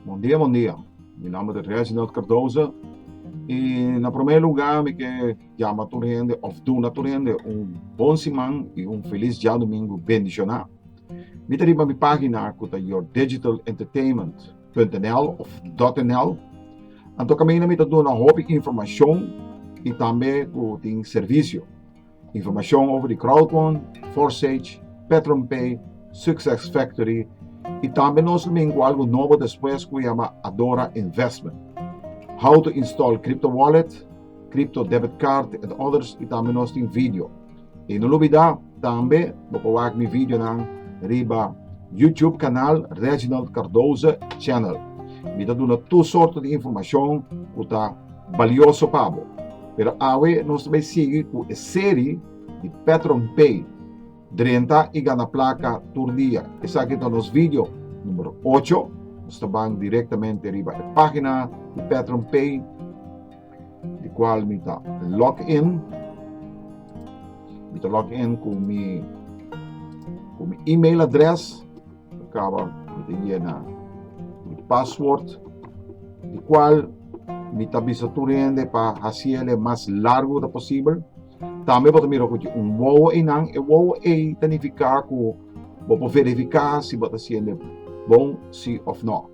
Bon dia bon dia mi nomber ta Reginald Cardoza y na primer lugar mi ke yama tur hende of duna tur hende un bon siman y un feliz diadomingo bendiciona mi ta riba mi pagina cu ta your digital entertainment. Punto.nl of Dot.nl. Anto kaminda mi ta duna hopi informashon i tambe ku tin servisio. Informashon over di Crowdfund, Forsage, PatronPay, Success Factory i tambe nos min ku algu nobo despues ku yama Adora Investment. How to install crypto wallet, crypto debit card and others i tambe nos tin video. I no lo bida tambe bo por wak mi videonan riba YouTube kanal Reginald Cardoza Channel. Mi ta duna tur sorto di informashon ku ta balioso pa bo. Pero awe nos ta bay sigui ku e seri di Petron Pay, Drenta i Gana Plaka Tur Dia. Esaki ta nos video numero ocho. Nos ta ban direktamente riba e pagina di Petron Pay. di cual mi ta log in mi ta log in cu mi cu mi email address acaba mi ta llena mi password di cual mi ta bisa tur hende pa haciele mas largo ta posible tambe bo ta mira cu un wowo e nan e wowo e ta nifica cu bo por verifica si bo ta haciende bon si of no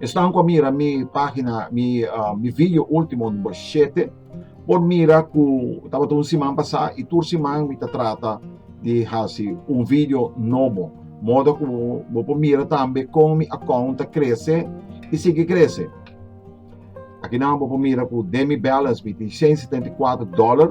Esnan ku a mira mi pagina mi mi video ultimo number shete por mira ku tabata un siman pasá i tur siman mi ta trata di hasi un video nobo modo ku bo por mira tambe kon mi akount ta krese i sigui krese. Akinan bo por mira ku den mi balance mi tin shen setenta i kuater dòler.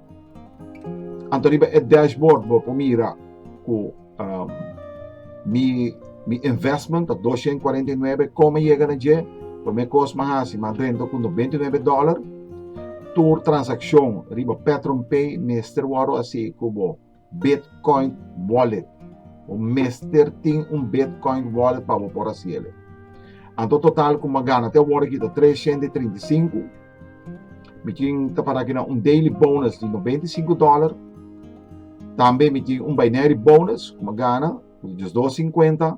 Anto riba e dashboard bo por mira cu um, mi, mi investment ta dos shen cuarenta y nuebe, como a yega na dje, por me cos ma haci, ma drenta cu noventa y nuebe dollar. Tur transaccion riba Petron Pay mester worde haci cu bo. Bitcoin Wallet. Bo mester tin un Bitcoin Wallet pa bo por hasi el. Anto total ku mi a gana te awor aki ta treshent i trinta i sinku. Mi tin ta para kina un daily bonus di noventa i sinku dòler. Tambe mi tin un binary bonus ku mi a gana, ku ta diosdos i sinkuenta.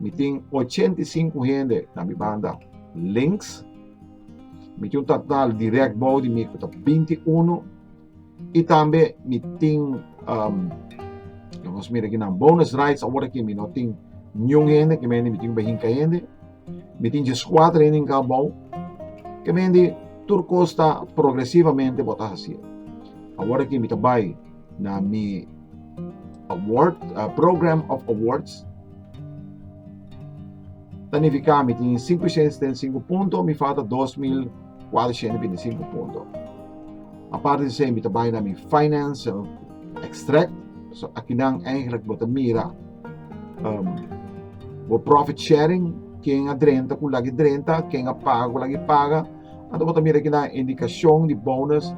Mi tin ochenta i sinku hende na mi banda links. Mi tin un total dirèk bou di mi ku ta binti i unu. I tambe mi tin, laga nos mira aki nan, bonus rights awor ki mi no tin niun hende. Ke mende mi tin bai hinka hende. Mi tin djes kuater hende hinká bou. Ke mende tur kos ta progresivamente bo ta hasié. Awor aki mi ta bai. na mi award, uh, program of awards. Tanifica mi tin 575 punto, mi falta 2425 punto. Aparte de mi trabalho na mi financial extract, so aqui não eigenlijk bota mira um, o profit sharing, quem adrenta com lagi drenta, quem apaga com lagi paga, Anto bo ta mira kina indikashon di bonus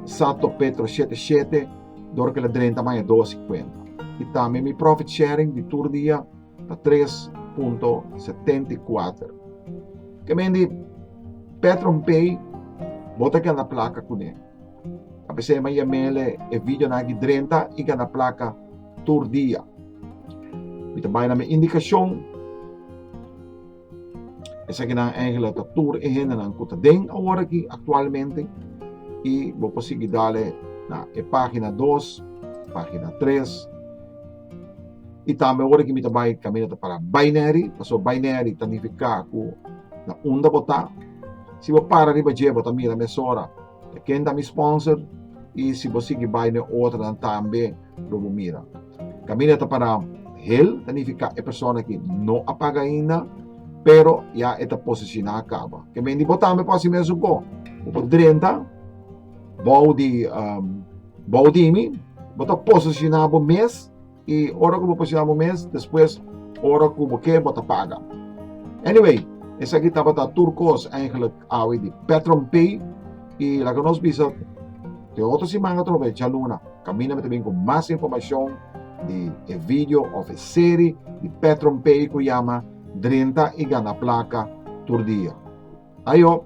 sa to Petro shete shete dor ke la drenta maña dos i kuenta. I tambe mi profit sharing di tur dia ta tres punto setenta i kuater. Ke men di PetronPay bo ta gana plaka kuné. Ta p'esei ma ya mele e video nan aki drenta i gana plaka tur dia. Mi ta bai na mi indikashon. Esakinan eigenlijk ta tur e hendenan ku ta den awor aki aktualmente i bo por sigui dale na e página dos, página tres i tambe awor aki mi ta bai kaminda ta para Baineri pasobra Baineri ta nifiká ku na unda bo ta. Si bo para riba dje bo ta mira mesora ta ken ta mi sponsor i si bo sigui bai na e otronan tambe. lo bo mira. Camina ta para hel, ta nifica e persona ki no a paga ainda, pero ya e ta posiciona caba. Ke men di bo tambe por hasi mesun ko. Bo por drenta, bou di, um, bou di mi, bo ta posiciona bo mes, y ora ku bo posiciona bo mes, despues ora ku bo ke, bo ta paga. Anyway, esa ki tabata tur kos eigenlijk awe di Petron Pay, y laga nos bisa Te otro siman atrobe djaluna Camina mi ta bin cu mas informacion di e video of e seri di Petron Pay cu yama Drinta y gana placa tur dia. Ayo!